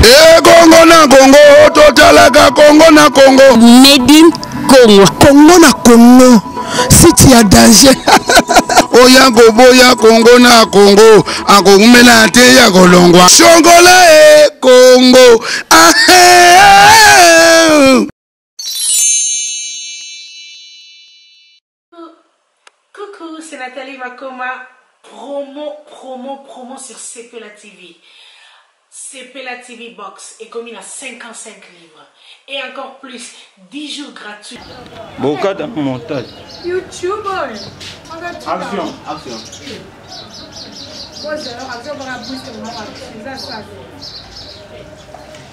ekongo na kongo totalaka kongo na kongo medi kongo kongo na kongo siti ya danger oya koboya kongo na kongo akoumela te ya kolongwa songola e kongo ahe Coucou c'est Nathalie Makoma promo promo promo sur sepela TV sepela TV box ekomi na 55 livres et encore plus 10 jours gratuits bokata montage YouTube action action Bozo, action bora boost mwa action ça ça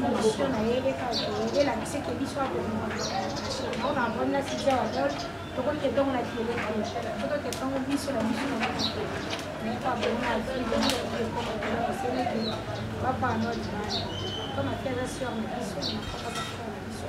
Monsieur na ye eleka oke elakisi ke biso akolinga na ona avandi na site ya wadol tokoki ketongo na fiele te soto ketongo biso na biso na biso mais kwa bonga aziko oseleke bapanote bana kama fiaza sur na biso na biso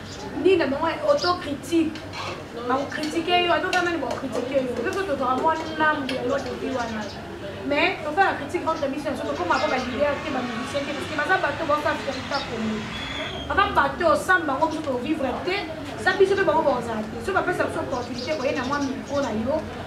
nini na bango autocritique bakokritike yo ata oza nani bakokritike yo mpe mpe tozwaka mwa ndambu ya eloko epi wana mais tosala critique entre biso na biso tokoma mpo balider te bamusicien te parceke baza bato baosaferita komi baza bato osambe bango biso tovivre te eza biso mpe bango bakozala te so bapesa biso opportunité koye na mwa mikro na yo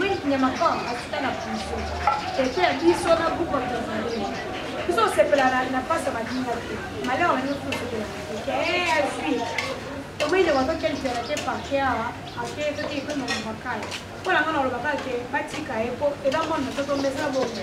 Wink Nyamakong asuka na prison. Tete ya biso na groupe ya Tanzanie. Biso osepela na pasi ya madinga te. Malheur na biso osepela. Eh, azwi. Omoi nde bato kelisa na te parke awa, ake soki epe na makaya. Mpo na nga na olobaka te batika ye mpo eza mwana na soto mbesa bongo.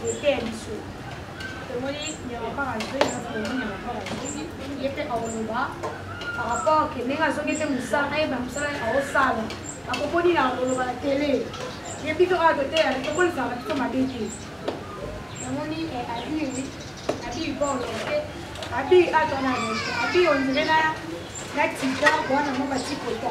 Moteye biso tomoni nyamapaka azongi kasi tomoni nyamapaka azongi ye mpe aoloba par rapport ke ndenge azongi mpe mosala ayeba mosala aosala akokoni na koloba na tele ye biso oyo toteya tokolisaka biso mabe te namoni abi abi bolo te abi atwana abi ondire na na tika wana mo batikoto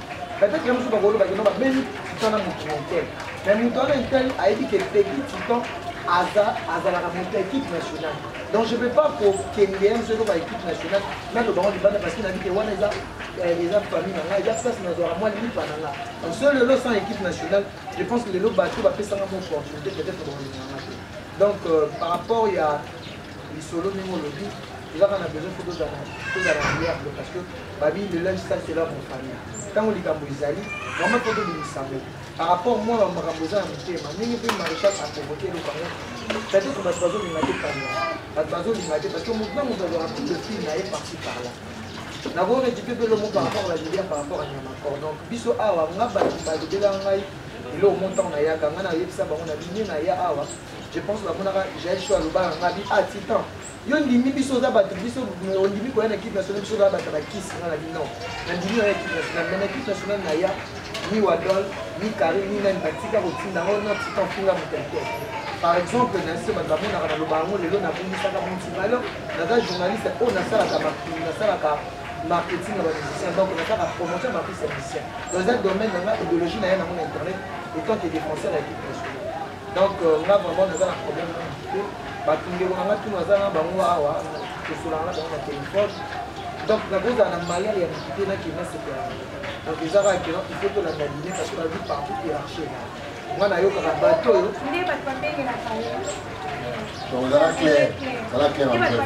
Peut-être que musuba kolo bakino ba beni tana mutu montel. Mais mutu wana intel ayebi que petit titan aza azalaka mutu équipe nationale. Donc je peux pas pour kendeya musu eko ba équipe nationale na to bango libanda parce que na bike wana eza eza famille na ngai eza place na zwa mwa lipa na ngai. Donc seul lelo sans équipe nationale, je pense que lelo bato bapesanga mo opportunité peut-être ba kolingana ngai te. Donc euh, par rapport ya lisolo ndenge olobi ezaka na besoin fo tozala tozala reliable parce que babi le linge sale c'est leur famille ntango likambo ezali vraiment mpo tobimisa yango par rapport mwana wa makambo eza na motema ndenge mpe maréchal aprovoke eloko yango peut-être bato bazolinga te kanga bato bazolinga te parce que moto na moto azwaka tout le fil na ye parti par là nakorekipe mpe lomo par rapport balilia par rapport anyamakor donc biso awa nga bato balobela ngai eloko mo ntango nayaka ngai nayebisa bango na bini naya awa je pense bamonaka jael sho alobaka ngai bi a ah, titan yo ndimi biso oza bato biso ondimi koya na equipe nationale biso oza bato bakisi nga na bino nandimi oya equipe nationale mais na equipe nationale naya ni wadol ni kari ni nani batika kotinda yango na tika mfinga motelete par exemple na se bato bamonaka naloba yango lelo nabongisaka monti valeur naza journaliste oyo nasalaka makulu nasalaka marketing ya bamusicien donc nasalaka promotion ya bapise ya musicien donc eza domaine nanga idéologie na ye nango na internet etant que défenseur ya equipe nationale donc euh, nga vraiment naza na problème te bato ndeko na nga tuna aza na bango awa tosolaka na bango na telefone donc nakozala na mayele ya mikite nakenda sepela donc eza kaka kena il faut tolanda line parce que na vie partout hiérarchie eza nga nayokaka bato oyo nde bato babengelaka ye donc zala clair zala clair en bref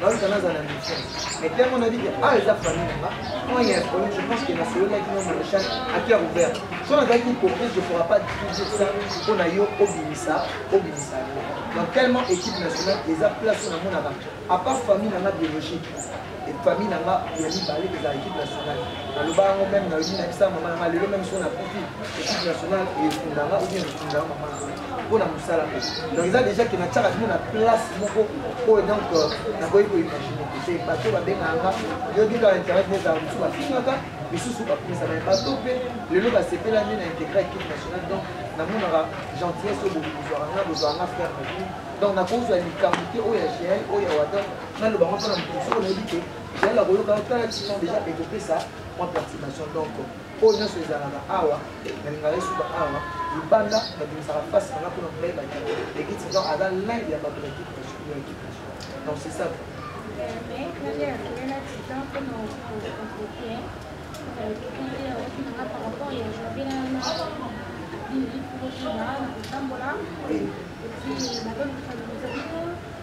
baluka naza na mission mais ntango nabi ke awa eza famille nanga quand ya problème je pense que nasololaki na maréchal akia ouvert so nazalaki hypocrite je pourra pas dire ça mpo na yo obimisa obimisa yo donc tellement équipe nationale eza place na monaka à part famille nanga biologique famille na nga ya mibale ezala équipe nationale naloba yango meme nayoki na bisa mama na nga lelo meme so nakufi équipe nationale efundanga obi efundanga mama na nga mpo na mosala donc eza déjà ke natiaka bino na place moko oyo donc euh, nakoki koimagine te bato babengaka nga yoki kaka internet nezala mosusu bafingaka misusu bakumisa baye bato mpe lelo basepelani na integre équipe nationale donc namonaka gentillesse oyo bozwaka nga bozwaka nga frère na bino donc nakozwa likambo te oyo ya gl oyo ya wadon naloba ngo mpona moto mosusu oyo nayebi te gl akoyoka tala tino déjà ekopesa mwa perturbation donc oyo nyonso ezalaka awa nalingaka esuka awa libanda nabimisaka mpasi nanga mpona molai baki ekiti donc aza lin ya bato ya ekipe ya ekipe donc c'est ça Oui.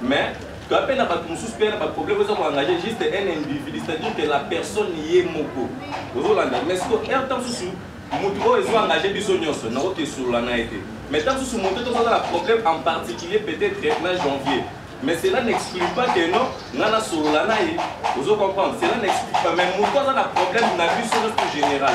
Mais toa mpe na bato mosusu mpe na baproblème oza koengage juste un individu c'est-à-dire que la personne ye moko ozolanda mais siko r ntango mosusu motu oyo ezo engage biso nyonso nakoki esolola na ye te mais ntango mosusu motu oyo tokozala problème en particulier peut-être na janvier mais cela n'exclut pas que non nga nasolola na ye ozo comprendre cela n'exclut pas mais motu aza na problème na biso nyonso général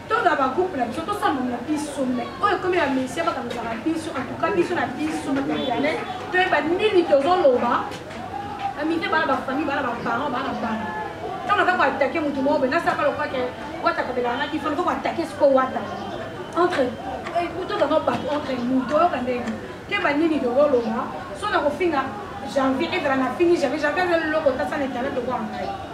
toza ba groupe na biso tosamba na biso me oyo ekomi ya mesia bakanozaka biso antuka biso na biso na internet toyeba nini tozoloba amite bana bafamille bana baparent bana bana ntango naza koatake motu moko boye nasaka lokwake wata kabelaka naki fo nako koatake siko wata entre eh, tozanga bato entre nous toyoka ndenge toyeba nini tozoloba so na kofinga janvier ezala na fini janvier janvier aza leloko tasana internet lokola ngai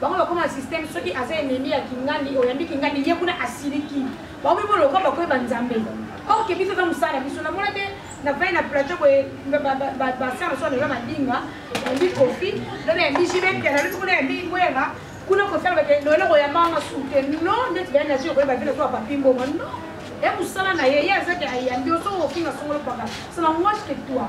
bango bakoma na systeme soki aza enemi ya kingandi oyambi kingandi ye kuna asiliki bakomi boloka bakoyeba nzambe oke biso eza mosala na biso namona te navai na plateau boye basala mosusu naloba madinga yambi kofi lobi yambi jibepia nalobi kuna yambi ngwera kuna kofela bake loyele koyamba nga sute no ndeti baya naje okoyeba vile soa papi mbongo no ya mosala na ye ye azaki ayambi oso ofinga songolo paka sana mwasi ke toi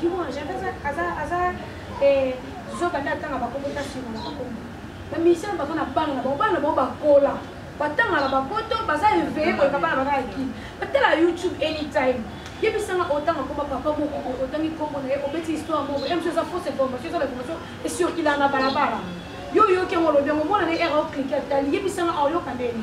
Kimwa Gervais aza aza eh zoba nda tanga ba kombo ta sima na ba kombo. Ba musiciens ba na bana na ba bana ba ba kola. Ba tanga na ba poto ba za éveillé ko ka bana ba ka ki. Ba tala YouTube anytime. yebisanga otanga komba papa moko otangi kombo na ye obeti histoire moko ye mosu eza fausse information eza bainformation esurkilaa na balabala yo oyoki yango olobi yango mwana na ye era oklike atali yebisanga aoyoka ndeni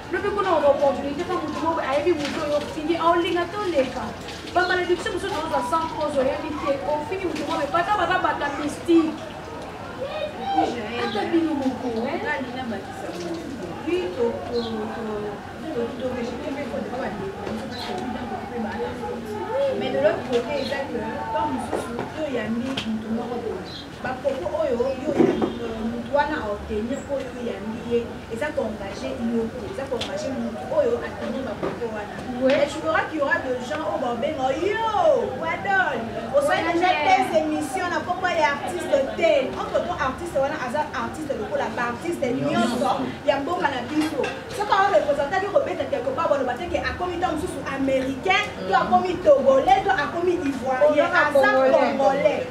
lobi kuna oba opportunité mpo moto moko ayebi moto oyo ofini aolinga te oleka bamalediction mosusu ozwa sans cause oyebi te ofini moto moko epata baza bata mystique ata bino moko mais de l'autre côté eza que temps mosusu toyambi moto moko boye ba propos oyo yo ya euh, mutu wana a obtenir po yo oyambi ye eza ko engage yo te eza ko engage mutu oyo a tenir ba propos wana mais tu verras qu'il y aura de gens oyo baobenga yo wadon osali deja tes émission na kombo ya artiste te entre to artiste wana aza artiste lokola ba artiste nyonso ya mboka na biso soki awa representaki kobeta quelque part baloba te ke akomi ntango mosusu américain to akomi togolais to akomi ivoirien aza congolais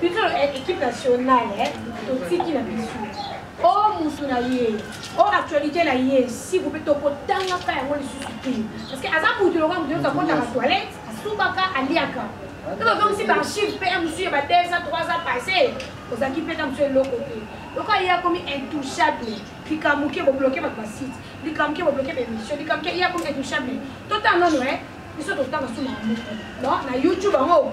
biso eh, équipe nationale eh, totiki na biso o oh, motu na ye o oh, actualité na ye siku mpe tokotangaka yango lisusu te parce que aza motu lokola motu yoka kotaka toilette asubaka aliaka to bazongisi baarchive mpe mosusu ya ba 2 ans 3 ans passé ozalaki mpe na mosusu eloko te lokola ye akomi intouchable likambo ke bobloke bato basite likambo ke bobloke baémission likambo ke ye akomi intouchable totanga nono e biso totanga suma ya moko na youtube yango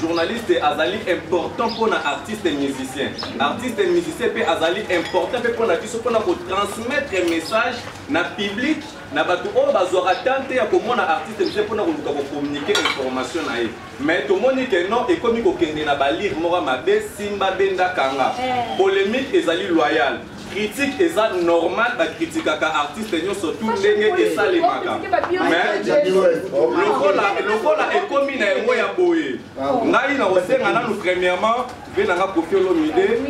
Journaliste azali important pour na artiste musicien. Artiste musicien pe azali important pe pona biso pona ko transmettre message na public na batu oyo bazwaka tante ya komona artiste musicien pona koluka ko communiquer information na ye. Mais tomoni que non ekomi kokende na balire moko mabe simba benda kanga. Eh. Polemique ezali loyale. critique eza normal bakritikaka artiste nyonso tu ndenge esalemaka lokola ekomi na yango ya boye ngai na kosenga nanu premièrement mpe nanga kofi olomide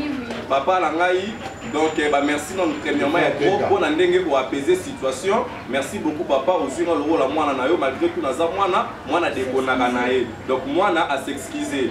papa na ngai donc eh, bamerci nanu premièrement ya trop mpo na ndenge oapese situation merci beaucoup papa ozwi nga lokola mwana na yo malgré tout naza mwana mwana dekonaka na ye donc mwana asexcuse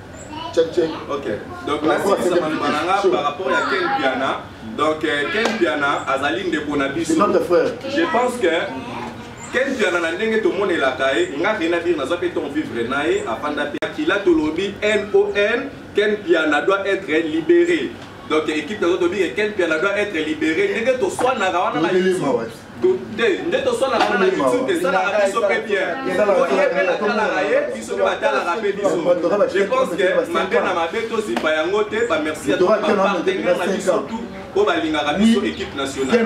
Check, check. Ok. Donc, là, c'est ça, Mananga, par rapport à Ken Piana. Donc, euh, Ken Piana, Azali Ndeko Nabiso. C'est notre frère. Je pense que Ken Piana, na ndenge tout le monde est là, nga rien à dire, na zappe ton vivre nae, apanda pia, kila to lobi, N-O-N, Ken Piana doit être libéré. Donc, équipe de Zotobi, Ken Piana doit être libéré. Ndenge to soit na rawana na te nde tosalaka na youtube esalaka biso mpe bien po ye mpe natalaka ye biso mpe batalaka mpe biso je pense que mabe na mabe tozipa yango te bamerci ya bapartenaire na biso tout oyo balingaka biso équipe nationale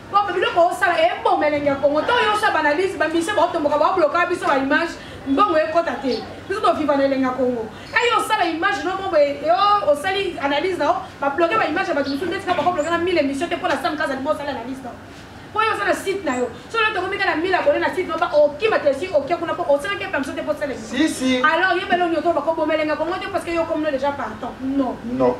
Papa biloko osala eboma elengi ya Congo to yo sa banalise ba mission ba otomboka ba bloka biso ba image mbongo ekota te biso to viva na elengi ya Congo et yo sala image no mobo yo osali analyse na ba bloquer ba image ba biso ndeti ka ba bloquer na 1000 émission te pona sam kaza libo sala analyse na po yo sala site na yo so yo tokomi ka na 1000 abonné na site no ba okima te si okia kuna po osala ke pamso te po sala si si alors yebelo nyoto ba ko bomela nga Congo te parce que yo comme déjà partant non non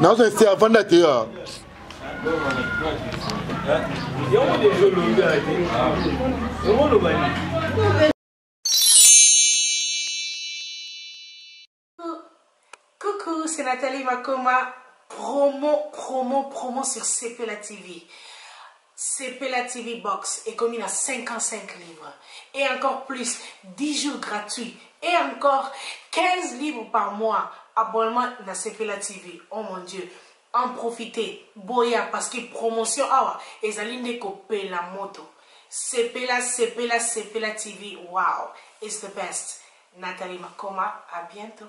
nazo insister avanda te ya yango deja olobi ate yango oloba nini Coucou, c'est Nathalie Makoma, promo, promo, promo sur CPLA TV. Sepela TV box ekomi na 55 livres et encore plus 10 jours gratuits et encore 15 livres par mois abonnement na sepela TV oh mon Dieu en profiter boya parce que promotion awa ezali nde ko pela moto sepela sepela sepela TV wow it's the best Nathalie Makoma à bientot.